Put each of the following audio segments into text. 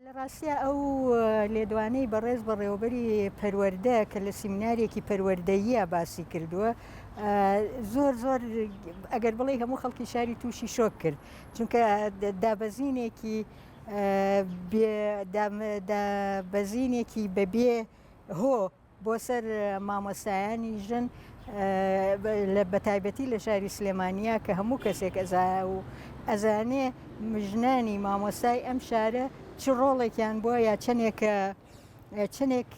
لە ڕاستیا ئەو لێدوانەی بەڕێز بەڕێوەبەری پەروەردە کە لە سیمینارێکی پەروەردەییە باسی کردووە زۆر زۆر ئەگەر بڵێ هەموو خەڵکی شاری تووشی شۆک کرد چونکە دابەزینێکی بەزینێکی بەبێ هۆ بۆ سەر مامۆستایانی ژن بەتایبەتی لە شاری سلێمانیا کە هەموو کەسێک ئەزا و ئەزانێ مژنانی مامۆستای ئەم شارە چ ڕۆڵێکیان بووە یا چەندێکە چەندێک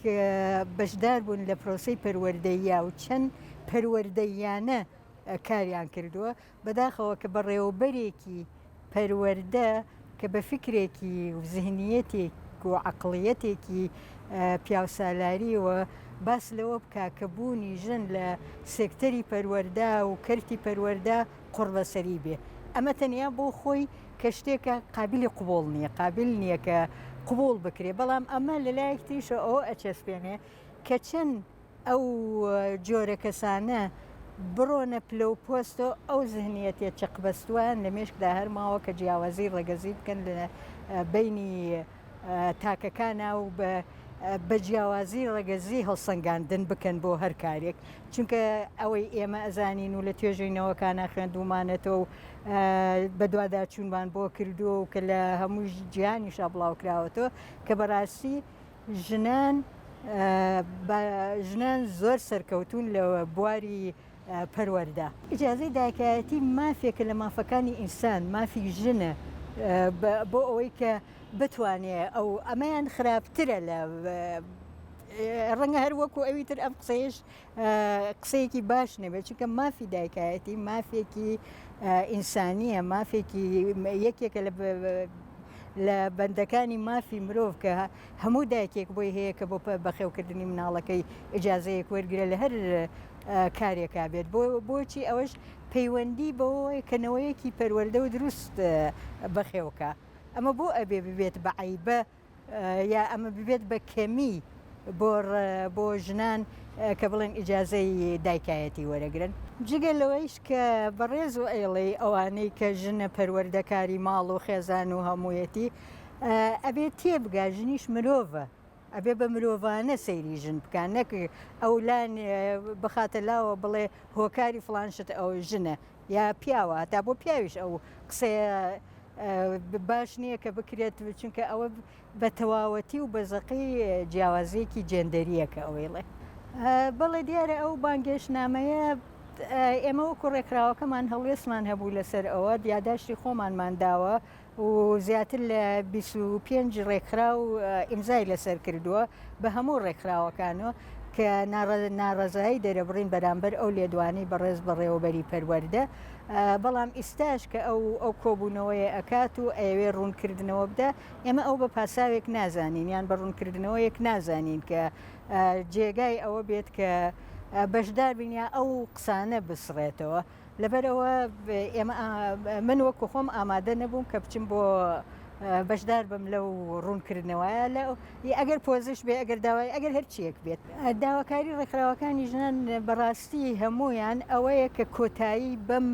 بەشدار بوون لە پرۆسی پەروەردەیە و چەند پەروەردەیانە کاریان کردووە بەداخەوە کە بەڕێوەبەرێکی پەروەردە کە بە فیکرێکی و زهنیەتێک و عەقڵیەتێکی پیاوسالاریەوە باس لەوە بکا کە بوونی ژن لە سێکتەری پەروەردە و کەرتی پەروەردە قوڕبەسەری بێ ئەمە تەنیا بۆ خۆی کە شتێکە قابلی قوبوڵ نییە قابل نییە کە قوبوڵ بکرێ بەڵام ئەمە لەلایەک تریشەوە ئەوە ئەچەسپێنێ کە چەند ئەو جۆرە کەسانە بڕۆنە پلە و پۆستۆ ئەو زهنیەتێ چەق بەستووان لە مێشکدا هەرماوە کە جیاوازی ڕەگەزی بکەن لە بینی تاکەکانە و بە بە جیاوازی ڕەگەزی هەڵسەنگاندن بکەن بۆ هەر کارێک چونکە ئەوەی ئێمە ئەزانین و لە توێژینەوەکانە خوێندومانەتەوە و بەدوادا چوونمان بۆ کردووە و کە لە هەموو جیهانیشا بڵاوکراوەتەوە کە بەڕاستی ژنان بە ژنان زۆر سەرکەوتوون لە بواری پەروەردە. ئیجازەی دایکایەتی مافێکە لە مافەکانی ئینسان، مافی ژنە بۆ ئەوەی کە بتوانێت ئەو ئەمەیان خراپترە لە ڕەنگە هەر وەکو ئەوی تر ئەم قسەیەش قسەیەکی باش نەبێت چونکە مافی دایکایەتی مافێکی ئینسانیە مافێکی یەکێکە لە لە بەندەکانی مافی مرۆڤ کە هەموو دایکێک بۆی هەیە کە بۆ بەخێوکردنی مناڵەکەی ئجاازەیەک وەرگرە لە هەر کارێکا بێت بۆ بۆچی ئەوەش پەیوەندی بەوەی کەنەوەیەکی پەروەەردە و دروست بەخێوکە ئەمە بۆ ئەبێ ببێت بە عیبە یا ئەمە ببێت بە کەمی بۆ بۆ ژنان کە بڵێن ئیجازەی دایکایەتی وەرەگرن جگە لەوەیش کە بەڕێز و ئەیڵێ ئەوانەی کە ژنە پەروەردەکاری ماڵ و خێزان و هەموویەتی ئەبێت تێبگا ژنیش مرۆڤە ئەبێ بە مرۆڤانە سەیری ژن بکان نەک ئەولان بخاتە لاوە بڵێ هۆکاری فلانشت ئەو ژنە یا پیاوە هەتا بۆ پیاویش ئەو قسەیە باش نییە کە بکرێت چونکە ئەوە بە تەواوەتی و بەزەقی جیاوازیەکی جێندەریەکە ئەوەیڵێ بەڵێ دیارە ئەو بانگێش نامەیە ئێمە وەکو ڕێکخراوەکەمان هەڵوێستمان هەبوو لەسەر ئەوە دیاداشتی خۆمانمان داوە و زیاتر لە بیست و پێنج ڕێکخراو ئیمزای لەسەر کردووە بە هەموو ڕێکخراوەکانەوە کە ناڕەزایی دەرەبڕین بەرامبەر ئەو لێدوانەی بەڕێز بەڕێوەبەری پەروەردە بەڵام ئیستاش کە ئەو ئەو کۆبوونەوەیە ئەکات و ئەوێ ڕوونکردنەوە بدە ئێمە ئەو بە پاساوێک نازانین یان بە ڕوونکردنەوەیەک نازانین کە جێگای ئەوە بێت کە بەشدار بین یا ئەو قسانە بسڕێتەوە. لەبەرئەوە ئێمە من وەکو خۆم ئامادە نەبووم کە بچم بۆ بەشدار بم لەو ڕوونکردنەوەە لە ئەگەر پۆزش بێ ئەگەر داوای ئەگەر هەرچیەک بێت داواکاری ڕێکخراوەکانی ژنان بەڕاستی هەمویان ئەوەیە کە کۆتایی بەم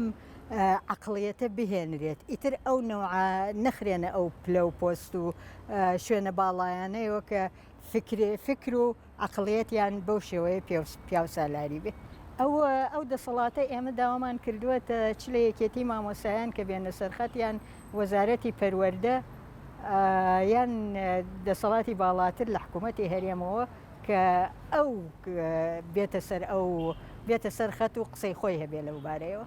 عقلیەتە بهێنرێت ئیتر ئەو نەوە نەخرێنە ئەو پلە و پۆست و شوێنە باڵایانەیەوە کە فکرێ فکر و عەقڵیەتیان بەو شێوەیە پیاوسالاری بێ. ئەو ئەو دەسەڵاتە ئێمە داوامان کردووەتە چ لە یەکێتی مامۆسایان کە بێنە سەرخەتیان وەزارەتی پەروەەردە یان دەسەڵاتی باڵاتر لە حکوومەتتی هەرێمەوە کە ئەو بێتە سەر ئەو بێتە سەر خەت و قسەی خۆی هەبێ لەو بارەیەوە.